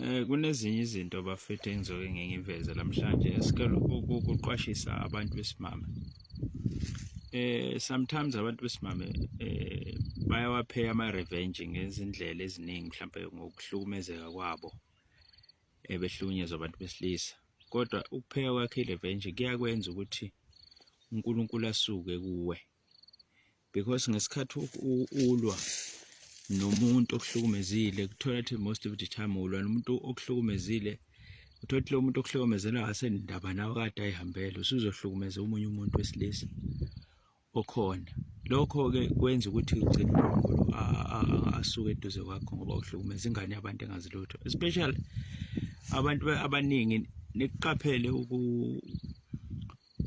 Eh kunezinye izinto bafethu engizoke ngingiveze namhlanje esikelo ukuqwashisa abantu besimame. Eh sometimes abantu besimame eh bayawapheya ama revenge ngezindlela eziningi mhlawumbe ngokuhlukumezeka kwabo ebehlukunyezwa eh, abantu besilisa. Kodwa ukupheya kwakhe revenge kuyakwenza ukuthi uNkulunkulu asuke kuwe. because ngesikhathi ulwa nomuntu okuhlukumezile kuthola ukuthi most of the time ulwa nomuntu okuhlukumezile uthola ukuthi lo muntu okuhlukumezela asenindaba nawe kade ayihambele usuzohlukumeza omunye umuntu wesilisa okhona lokho-ke kwenza ukuthi ugcine unkulunkulu asuke eduze kwakho ngoba uhlukumeza ingane yabantu engazi lutho especially abantu abaningi nikuqaphele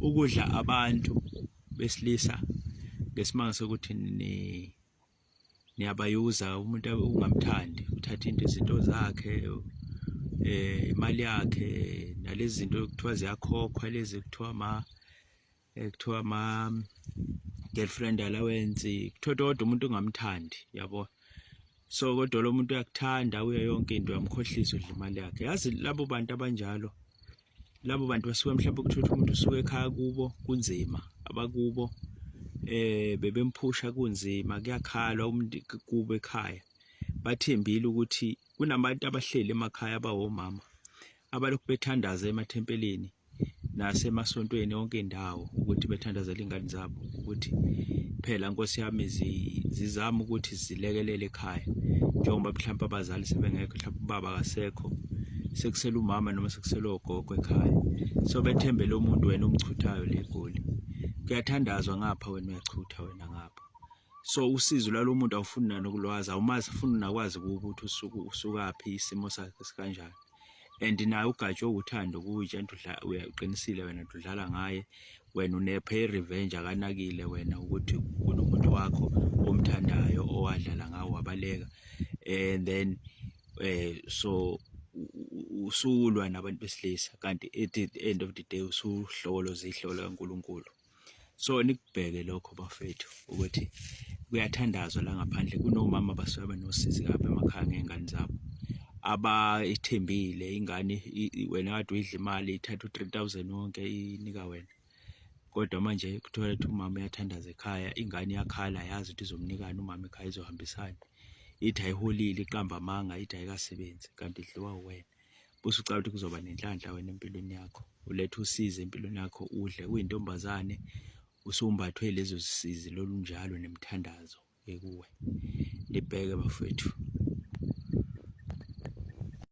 ukudla abantu besilisa ngesimanga sokuthi ni niyabayuza umuntu ungamthandi uthatha into izinto zakhe eh imali yakhe nalezi zinto kuthiwa ziyakhokhwa lezi kuthiwa ma eh, kuthiwa ma girlfriend allowance kuthiwa kodwa umuntu ungamthandi yabo so kodwa lo muntu uyakuthanda uye yonke into uyamkhohlisa udla imali yakhe yazi labo bantu abanjalo labo bantu basuke mhlawumbe ukuthola umuntu usuke ekhaya kubo kunzima abakubo eh bebemphusha kunzima kuyakhala umuntu kubo ekhaya bathembile ukuthi kunabantu abahleli emakhaya abawomama abalokhu bethandaza emathempelini nasemasontweni onke indawo ukuthi bethandazele ingane zabo ukuthi phela nkosi yami zizama ukuthi zilekelele ekhaya njengoba mhlawumbe abazali sebengekho mhlawumbe ubaba akasekho sekusela umama noma sekusela ogogo ekhaya so bethembele umuntu wena omchuthayo le goli kuyathandazwa ngapha wena uyachutha wena ngapha so usizo lwalomuntu awufuni nanokulwazi awumazi funa unakwazi ukuthi usuku usukaphi isimo sakhe sikanjani and naye ugatshwe uthando kuyi udla uyaqinisile wena udlala ngaye wena unephe revenge akanakile wena ukuthi kunomuntu wakho omthandayo owadlala ngawo wabaleka and then eh so usulwa nabantu besilisa kanti at the end of the day usuhlolo zihlolo kaNkuluNkulu so nikubheke lokho bafethu ukuthi kuyathandazwa la ngaphandle kunomama abasuke benosizi kabi emakhaya ngey'ngane zabo abayithembile ingane wena kade uyidla imali ithatha u-three thousand wonke inika wena kodwa manje kuthola ukuthi umama uyathandaza ekhaya ingane iyakhala yazi ukuthi izomnikani umama ekhaya izohambisana ithi ayiholile iqamba amanga ithi ayikasebenzi kanti idliwa uwena bese ucala ukuthi kuzoba nenhlanhla wena empilweni yakho ulethe usizi empilweni yakho udle uyintombazane usumbathwe lezo zisizi lolunjalo nemthandazo ekuwe libheke bafethu